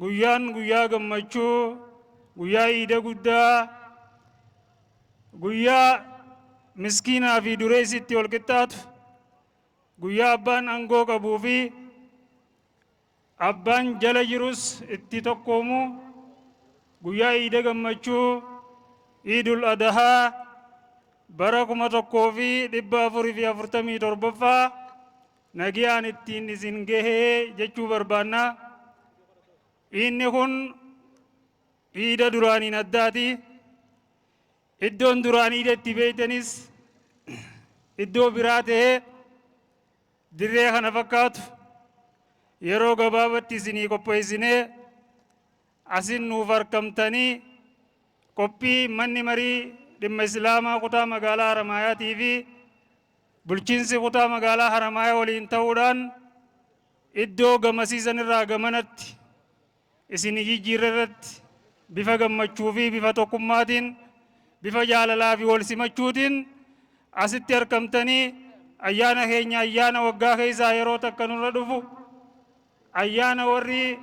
Guyyaan guyyaa gammachuu, guyyaa iida guddaa, guyyaa miskiinaa fi dureessi itti wal qixxaatu, guyyaa abbaan aangoo qabuu fi abbaan jala jirus itti tokkoomu, guyyaa iida gammachuu, iidul adahaa bara kuma tokkoo fi dhibba afurii fi afurtamii torbaffaa nagiyaan ittiin isin gahee jechuu barbaanna. Iidni kun iida duraaniin addaati. Iddoon duraan iida itti beeytanis iddoo biraa ta'ee dirree kana fakkaatu yeroo gabaabatti isinii qopheessinee asin nuuf arkamtanii qophii manni marii dhimma islaamaa kutaa magaalaa Haramaayaatii fi Bulchiinsi Kutaa Magaalaa Haramaayaa waliin ta'uudhaan iddoo gamasii san irraa gamanatti isinii jijjiirre irratti bifa gammachuu fi bifa tokkummaatiin, bifa jaalalaa fi wal simachuutiin asitti argamtanii ayyaana keenya ayyaana waggaa keessaa yeroo takka nurra dhufu ayyaana warri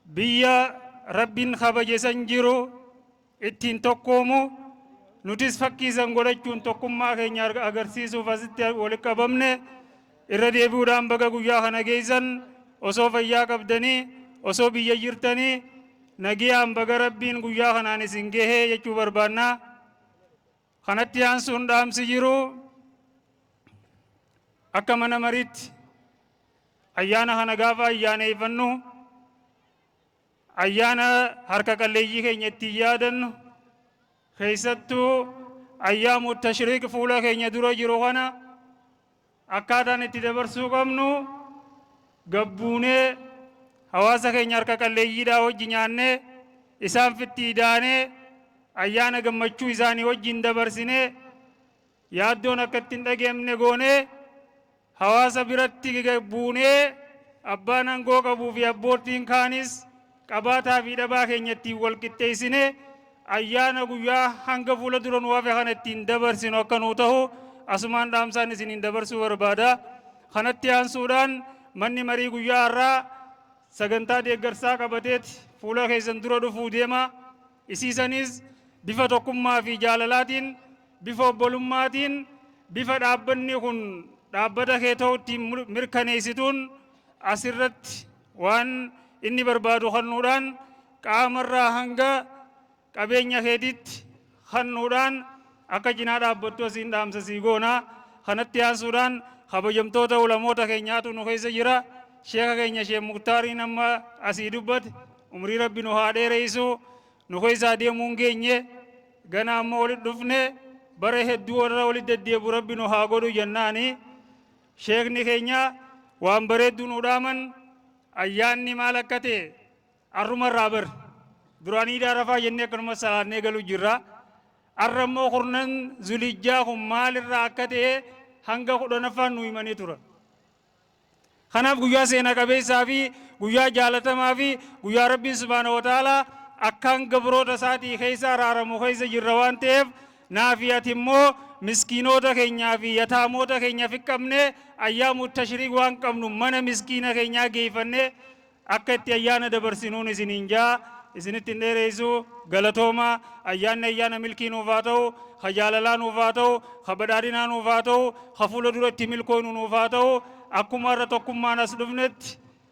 Biyya Rabbiin kabaje san jiru ittiin tokkoomu nutis fakkii san godhachuun tokkummaa keenya agarsiisuuf asitti walitti qabamne irra deebi'uudhaan baga guyyaa kana geessan osoo fayyaa qabdanii osoo biyya jirtanii nagiyaan baga Rabbiin guyyaa kanaan isin gahee jechuu barbaannaa. Kanatti aansuun dhaamsi jiru akka mana mariitti ayyaana kana gaafa ayyaaneeffannu ayyaana harka qalleeyyii keenya ittiin yaadannu keessattuu ayyaamu tashriiq fuula keenya dura jiru kana Akkaataan itti dabarsuu qabnu gabbuunee hawaasa keenya harka qalleeyyiidhaa wajji nyaannee isaanfitti idaanee ayyaana gammachuu isaanii wajjin dabarsinee yaaddoon akka itti hin dhageemne goonee hawaasa biratti gagbuunee abbaan angoo qabuu fi abboottiin kaanis qabaataa fi dhabaa keenya ittiin wal qixxeessinee ayyaana guyyaa hanga fuula dura nu hafe kana ittiin dabarsinu akka nuu tahu asumaan dhaamsaan isiniin dabarsuu barbaada. Kanatti aansuudhaan manni marii guyyaa har'aa sagantaa deeggarsaa qabateeti fuula keessan dura dhufuu deema. Isiisaniis bifa tokkummaa fi jaalalaatiin, bifa obbolummaatiin, bifa dhaabbanni kun dhaabbata kee ta'u ittiin mirkaneessituun asirratti Waan inni barbaadu kannuudhaan qaama irraa hanga qabeenya keetiitti kannuudhaan akka cinaa dhaabbattu asiin dhaamsa sii goona. Kanatti aansuudhaan kabajamtoota ulamoota keenyaatu nu keessa jira. Sheeka keenya Sheek Muktaariin amma asii dubbate umrii rabbi nu haa dheereessu. Nu keessaa deemuu hin geenye gana amma walitti dhufne bara hedduu warra walitti deddeebu rabbi nu haa godhu jennaani. Sheekni keenya waan bareeddu nuu dhaaman ayyaanni maal akka ta'e arruma irraa bar duraan iida arafaa jennee akkanuma salaannee galu jirra arra immoo kurnan zulijjaa kun maal irraa akka ta'e hanga kudhanaffaan nu himanii tura kanaaf guyyaa seena qabeessaa fi guyyaa jaalatamaa fi guyyaa rabbiin subhaana wa ta'ala akkaan gabroota isaatii keessa araaramu keessa jirra waan ta'eef Naa fi ati immoo miskiinoota keenyaa fi yataamoota keenya fiqqabnee ayyaamu tashriik waan qabnu mana miskiina keenyaa geeyfannee akka itti ayyaana dabarsinuun isiniin jaa isinitti hin dheereeysu galatooma ayyaanni ayyaana milkii nuuf haa ta'u ka jaalalaa nuuf haa ta'u ka badhaadhinaa nuuf haa ta'u ka fuula dura itti milkooynu nuuf haa ta'u akkuma irra tokkummaan as dhufnetti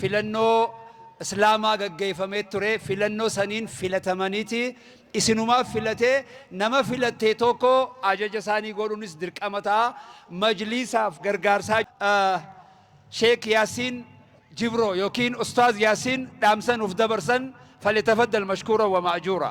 filannoo islaamaa gaggeeyfamee ture filannoo saniin filatamaniiti isinumaaf filatee nama filattee tokko ajaja isaanii godhuunis dirqama ta'a majliisaaf gargaarsaa sheek yaasiin jibroo yookiin ustaaz yaasiin dhaamsa nuuf dabarsan falyatafaddal mashkuura wa ma'ajuura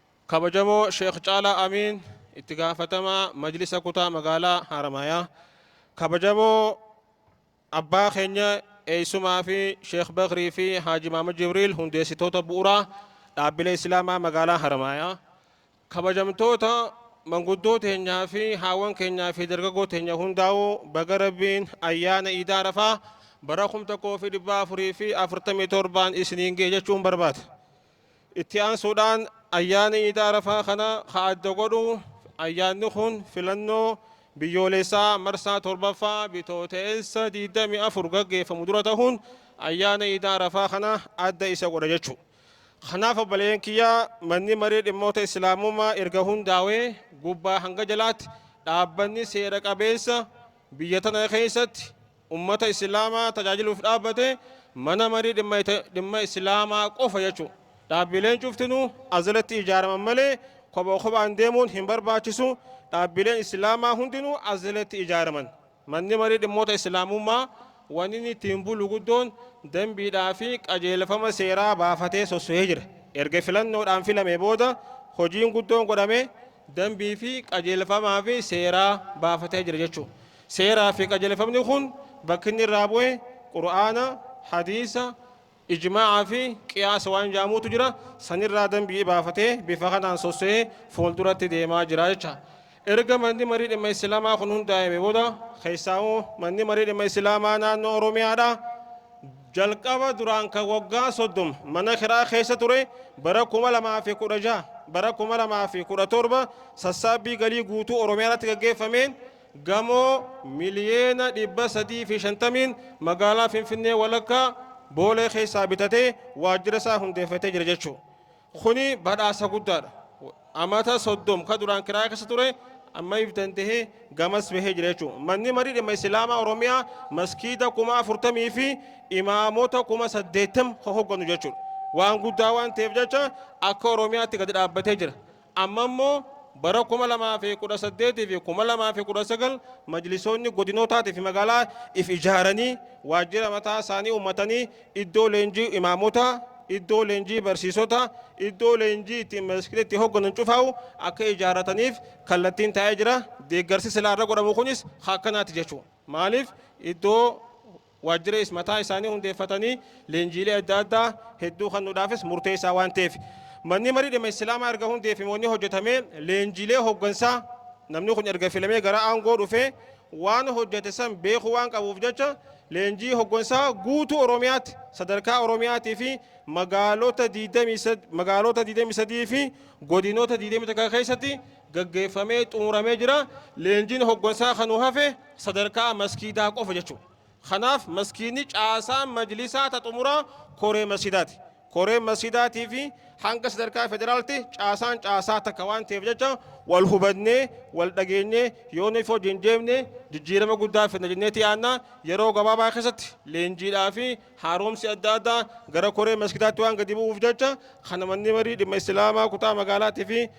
Kabajamoo Sheikh Caalaa Amiin Itti Gaafatamaa Majlisa Kutaa Magaalaa Haramaayaa, Kabajamoo Abbaa keenya Eessumaa fi Sheikh Bakrii fi Haaji Maamad Jibriil Hundeessitoota Bu'uraa Dhaabbilee Islaamaa Magaalaa Haramaayaa, Kabajamtoota Manguddoo teenyaa fi Haawwan keenyaa fi Dargaggoo teenya hundaa'u baga Rabbiin Ayyaana Iida Arafaa bara 1447'n isiniin gahe jechuun barbaada. Itti aansuudhaan ayyaana Iida Arafaa kana ka adda godhu ayyaanni kun filannoo biyyooleessaa marsaa 7ffaa Bitooteessa 24 gaggeeffamu dura tahuun ayyaana Iida Arafaa kana adda isa godha jechu. Kanaaf obboleeyyan kiyya manni maree dhimmoota Islaamummaa erga hundaawee gubbaa hanga jalaatti dhaabbanni seera qabeessa biyya tana keessatti Ummata Islaamaa tajaajiluuf dhaabbate Mana Marii Dhimma Islaamaa qofa jechuu. Dhaabbileen cuftinuu as jalatti ijaaraman malee kopha kophaan deemuun hin barbaachisu, dhaabbileen Islaamaa hundinuu as jalatti ijaaraman. Manni Marii Dhimmoota Islaamummaa wanni inni ittiin bulu guddoon dambiidhaa fi qajeelfama seeraa baafatee sossohee jira. Erga filannoodhaan filamee booda hojiin guddoon godhame dambii fi qajeelfamaa fi seeraa baafatee jira jechuu. Seeraa fi qajeelfamni kun bakki inni irraa bu'e Qur'aana, Hadiisa, Ijmaa'a fi Qiyaasa waan ja'amuutu jira. San irraa dambii baafatee bifa kanaan sosso'ee fuulduratti deemaa jira jecha. Erga Manni Marii Dhimma Islaamaa kun hundaa'ame booda keessaahuu Manni Marii Dhimma Islaamaa Naannoo Oromiyaadhaa jalqaba duraan kan waggaa 30 mana kiraa keessa ture bara 2016, bara 2017 sassaabbii galii guutuu Oromiyaa irratti gaggeeffameen Gamoo miliyeena 350'n magaalaa Finfinnee walakkaa Boolee keessaa bitatee waajjira isaa hundeeffatee jira jechuu. Kuni badhaasa guddaadha. Amata 30 ka duraan kiraaya keessa ture amma if dandahee gamas bahee jira jechuu. Manni marii dhimma Isilaamaa Oromiyaa maskiida kuma 40 fi imaamota kuma 80 ka hogganu jechuudha. Waan guddaa waan ta'eef jecha akka Oromiyaatti gadi dhaabbatee jira. Amma immoo bara 2018 fi 2019 majlisoonni godinootaatii fi magaalaa if ijaaranii waajjira mataa isaanii uummatanii iddoo leenjii imaamotaa, iddoo leenjii barsiisotaa, iddoo leenjii ittiin maskida itti hogganan cufaa'u akka ijaarrataniif kallattiin taa'ee jira. Deeggarsi silaa irra godhamu kunis akkanaati jechuudha. Maaliif iddoo Waajjira is mataa isaanii hundeeffatanii leenjiilee adda addaa hedduu kannuudhaafis murteessaa waan ta'eef. Manni marii dhimma Islaamaa erga hundeeffame wanni hojjetame leenjiilee hoggansaa namni kun erga filamee gara aangoo dhufee waan hojjete san beekuu waan qabuuf jecha leenjii hoggansaa guutuu Oromiyaatti sadarkaa Oromiyaatii fi magaalota 23 fi godinoota 21 keessatti gaggeeffamee xumuramee jira. Leenjiin hoggansaa kan nu hafe sadarkaa maskiidaa qofa jechuudha. Kanaaf maskiidni caasaa majlisaa ta xumuraa koree masjidaati. Koreen masjidaatii fi hanga sadarkaa federaalti caasaan caasaa takka waan ta'eef jecha wal hubannee wal dhageenyee yoo nuuf hojiin deemne jijjiirama guddaa fidna jenneeti yaadna yeroo gabaabaa keessatti leenjiidhaa fi haaromsi adda addaa gara koree masjidaatti waan gadi bu'uuf jecha kana manni marii dhimma islaamaa kutaa magaalaatii fi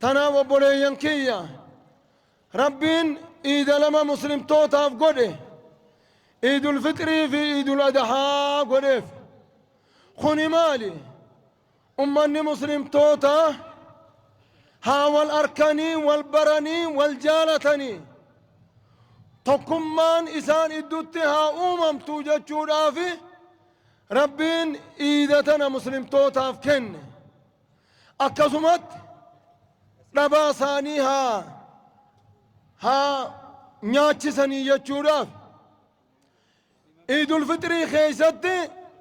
Tanaaf obboleeyyan kiyya! Rabbiin iida lama muslimtootaaf godhe, iidul fixrii fi iidul adahaa godheef. Kuni maali? Ummanni muslimtootaa haa wal arkanii, wal baranii, wal jaalatanii, tokkummaan isaan iddutti haa uumamtu jechuudhaafi Rabbiin iida tana muslimtootaaf kenne. Akkasumatti dhabaa isaanii haa haa nyaachisanii jechuudhaaf Iidul Fixrii keessatti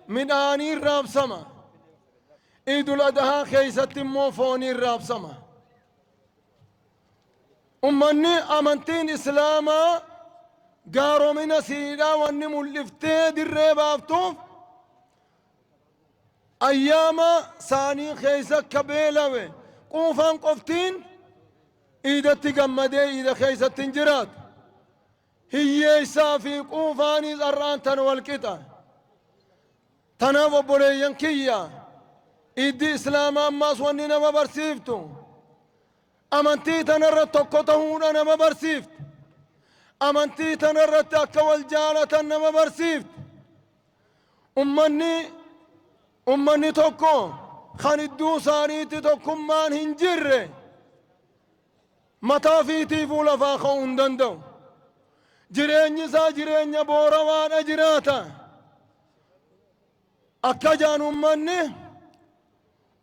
midhaaniin raabsama. Iidul Adahaa keessatti immoo fooniin raabsama. Ummanni amantiin Islaamaa gaaromina siidhaa wanni mul'iftee dirree baaftuuf Ayyaama saanii keessa ka beelawe quufaan qoftiin iidatti gammadee iida keessatti hin jiraatu. Hiyyeessaa fi quufaanis har'aan tan wal qixa. Tanaaf obboleeyyan kiyya iiddi islaamaa ammaas wanni nama barsiiftu amantii tanarra tokko tahuudha nama barsiifti. Amantii tanarratti akka wal jaalatan nama barsiifti. Ummanni ummanni tokko kan idduu isaaniitti tokkummaan hin jirre mataa fiitiifuu lafaa ka'uu hin danda'u. Jireenyi isaa jireenya boorawaadha jiraata. Akka jaan ummanni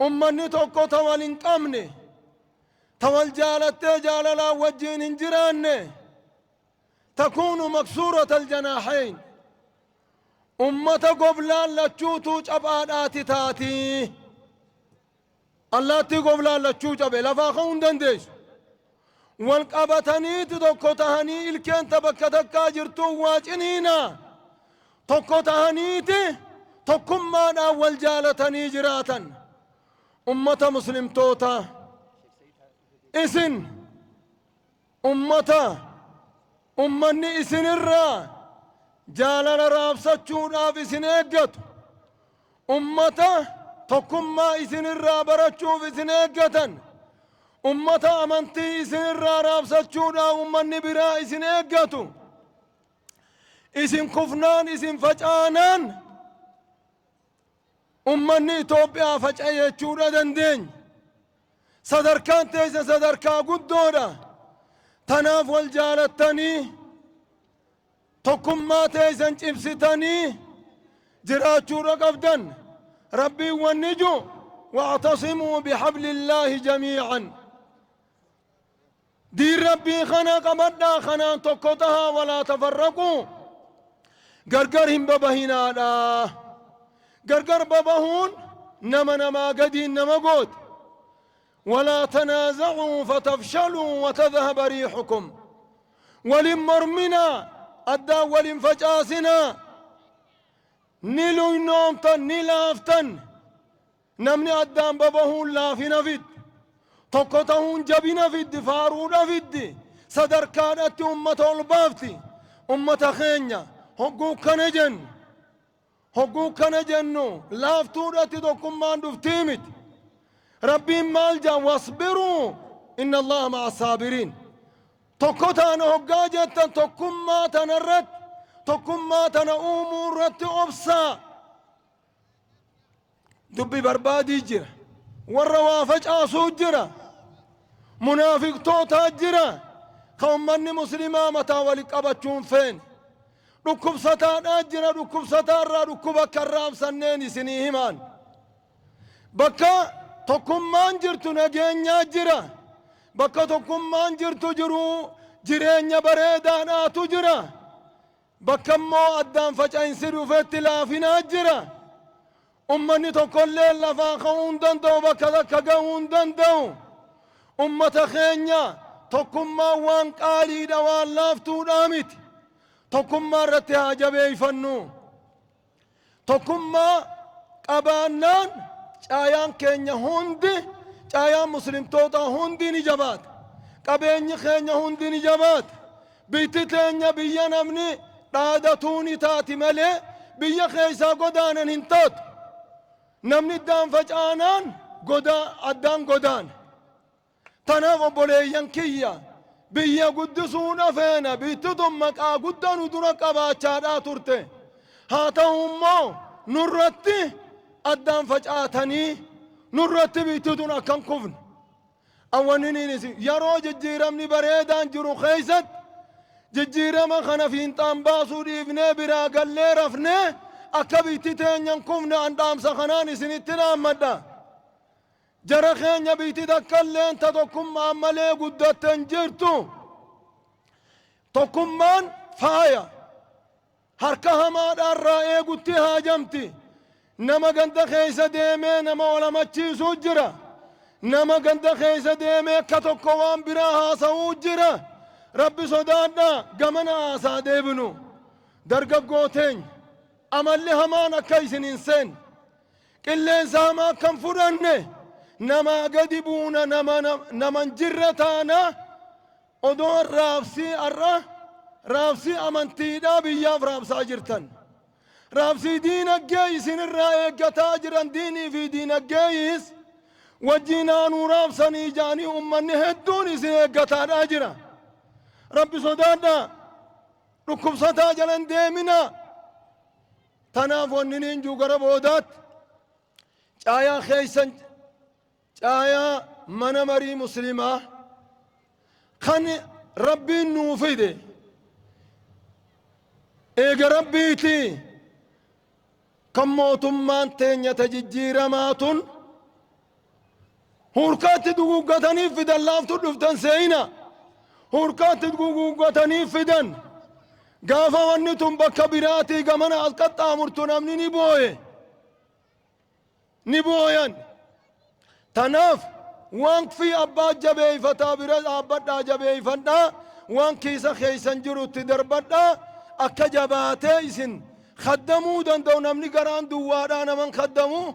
ummanni tokko ta wal hin qabne ta wal jaalattee jaalalaan wajjiin hin jiraanne. takuunu maksuurata aljanaahayn ummata goblaan lachuutuu caphaadhaati taati allaattii goblaan lachuu cabe lafaa ka'uu hin dandeessu wal qabataniiti tokko tahanii ilkeen ta bakka takkaa jirtuun waa ciniina tokko tahaniiti tokkummaadhaan wal jaalatanii jiraatan ummata muslimtoota isin Ummata, ummanni isin irraa jaalala raabsachuudhaaf isin eeggatu, ummata tokkummaa isin irraa barachuuf isin eeggatan, ummata amantii isin irraa raabsachuudhaaf ummanni biraa isin eeggatu, isin kufnaan isin facaanaan ummanni Itoophiyaa faca'e jechuudha dandeenya. Sadarkaan teessa sadarkaa guddoodha. Tanaaf wal jaalattanii tokkummaa teessan cimsitanii jiraachuudha qabdan. Rabbiin wanni ju wa'tasimuu bihablillaahi jamii'an. Diin Rabbii kana qabadhaa kanaan tokko tahaa walaa tafarraquu gargar hin babahinaadha. Gargar babahuun nama namaa gadiin nama gooti. Walaa tanaazacuu fatafshaluu watadhaba riixukum. Wal hin morminaa addaan wal hin facaasinaa. Ni luynoomtan ni laaftan. Namni addaan babahuun laafina fiddi. Tokko tahuun jabina fiddi, faaruudha fiddi, sadarkaadhatti ummata ol baafti. Ummata keenya hogguu kana jennu, hogguu kana jennu laaftuudhatti tokkummaan dhuftii miti. Rabbiin maal jedha? Wasbiruu inna Allaha ma'a saabiriin. Tokko taana hoggaa jettan tokkummaa tanarratti, tokkummaa tana uumuu irratti obsaa. dubbi barbaadii jira warra waa facaasuu jira munaafiqtootaa jira ka ummanni muslimaa mataa wali qabachuun feen dhukkubsataadhaa jira dhukkubsataa irraa dhukkuba akka irraa absanneen isinii himaan bakka tokkummaan jirtu nageenyaa jira bakka tokkummaan jirtu jiruu jireenya bareedaadhaatu jira Bakka immoo addaan faca'insi dhufetti laafina jira. Ummanni tokkolleen lafaa ka'uu hin danda'u, bakka takka ga'uu hin danda'u. Ummata keenya tokkummaan waan qaaliidha, waan laaftuudhaa miti. Tokkummaa irratti haa jabeeffannu. Tokkummaa qabaannaan caayaan keenya hundi, caayaan muslimtootaa hundi ni jabaata. Qabeenyi keenya hundi ni jabaata. Biyyi teenya biyya namni dhaadatuu ni taati malee biyya keessaa godaanan hin taatu. Namni iddaan facaanaan godaa, addaan godaana. Tanaaf obboleeyyan kiyya biyya guddisuudha feena biitti tun maqaa guddaa nu dura qabaachaadhaa turte haa ta'u immoo nurratti addaan facaatanii nurratti biitti tun akka hin kufne awwaniniinis yeroo jijjiiramni bareedaan jiru keessatti jijjiirama kana fiinxaan baasuu dhiifnee biraa gallee rafnee akka biitti teenya hin kufne an dhaamsa kanaan isinitti dhaammadha. Jara keenya biyti takkalleen ta tokkummaan malee guddatte hin jirtu. Tokkummaan faaya. Harka hamaadhaa irraa eegutti haajamti. Nama ganda keessa deemee nama wal hamachiisuu jira. Nama ganda keessa deemee akka tokko waan biraa haasa'uu jira. Rabbi sodaadhaa gamana haasaa deebinu. Dargaggoo teenya amalli hamaan akka isin hin seenne. Qilleensa hamaa akka hin fudhanne, namaa gadi buuna, nama nama hin jirre taana, odoo raabsii har'a raabsii amantiidhaa biyyaaf raabsaa jirtan. Raabsii diinaggee isin irraa eeggataa jiran diinii fi diinaggeeyis wajjiin haa nuu raabsanii jaanii ummanni hedduun isin eeggataadhaa jira. Rabbi sodaadhaa, dhukkubsataa jala hin deeminaa. Tanaaf wanniniin juu gara boodaatti caayaa keessan caayaa mana marii muslimaa kan rabbiin nuu fide eega rabbiiti kan mootummaan teenya ta jijjiiramaa tun Hurkaatti duguuggatanii fidan laaftu dhuftan seeyina. Hurkaatti duguuggatanii fidan. Gaafa wanni tun bakka biraatii gamana as qaxxaamurtu namni ni booye. Ni booyan. Tanaaf waaqfii abbaa jabeeyfataa bira dhaabbadhaa jabeeyfadhaa waan kiisa keeysan jirutti darbadhaa akka jabaatee isin kaddamuu danda'u namni garaan duwwaadhaa naman kaddamuu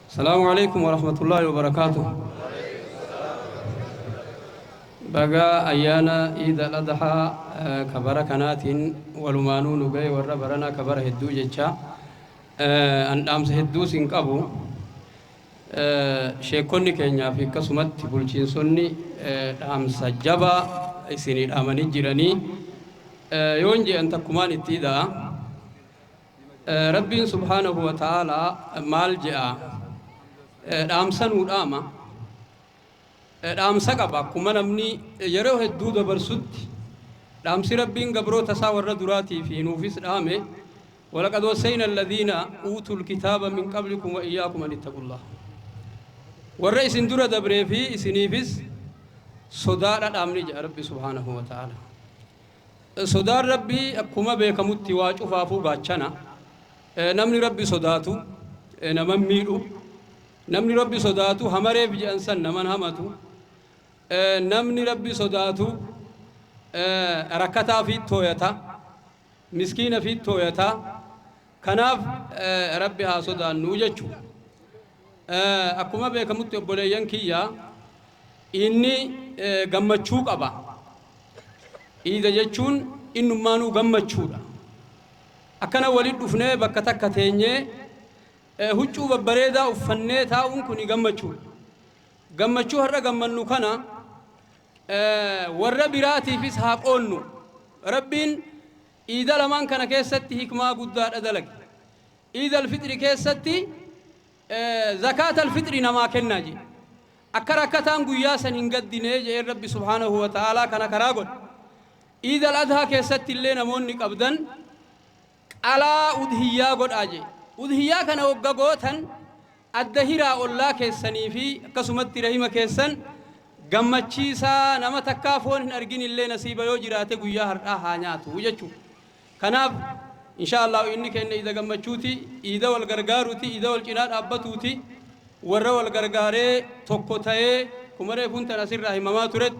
Salamu Aleykum Warahmatullahi Wabarakatuh Baga Ayyaana Iid Al Adhaa ka bara kanaatiin walumaanuu nu gahe warra baranaa ka bara hedduu jechaa an dhaamsa hedduu sin qabu sheekkonni keenyaa fi akkasumatti bulchiinsonni dhaamsa jabaa isinii dhaamanii jiranii yoon je'an takkumaan itti ida'a Rabbiin subhaanahu wa ta'aalaa maal je'a? Dhaamsa nuu dhaama. Dhaamsa qaba akkuma namni yeroo hedduu dabarsutti. Dhaamsi Rabbiin gabroota isaa warra duraatii fi nuufis dhaame walaqad wassayna alladhiina uutul kitaaba min qablikum wa iyyaakum an ittaqullah. Warra isin dura dabree fi isiniifis sodaadha dhaamni jedha Rabbi subhaanahu wa ta'aalaa. Sodaan Rabbii akkuma beekamutti waa cufaafuu gaachana. Namni Rabbi sodaatu naman miidhu. Namni Rabbi sodaatu hamareef je'an san naman hamatu. Namni Rabbi sodaatu rakkataa fiit tooyata. Miskiina fiit tooyata. Kanaaf Rabbi haa sodaannu jechu. Akkuma beekamutti obboleeyyan kiyya iidni gammachuu qaba. Iida jechuun innummaanuu gammachuudha. Akkana walitti dhufnee bakka takka teenyee huccuu babbareedaa uffannee taa'uun kuni gammachuudha. Gammachuu har'a gammannu kana warra biraatiifis haa qoodnu. Rabbiin iida lamaan kana keessatti hikmaa guddaadha dalage. Iid Al-Fixri keessatti Zakaat Al-Fixri namaa kennaa je'e. Akka rakkataan guyyaa san hin gaddine je'een Rabbi subhaanahu wa ta'aalaa kana karaa godhe. Iid Al-Adhaa keessattillee namoonni qabdan qalaa udhiyyaa godhaa je'e. Udhiyyaa kana hogga gootan Adda hiraa ollaa keessanii fi akkasumatti rahima keessan gammachiisaa nama takkaa foon hin argin illee nasiiba yoo jiraate guyyaa har'aa haa nyaatu jechuu kanaaf inshaa Allaahu iidni keenna iida gammachuuti iida wal gargaaruti iida wal cinaa dhaabbatuuti warra wal gargaaree tokko tayee akkuma reefuun tana asirraa himamaa turetti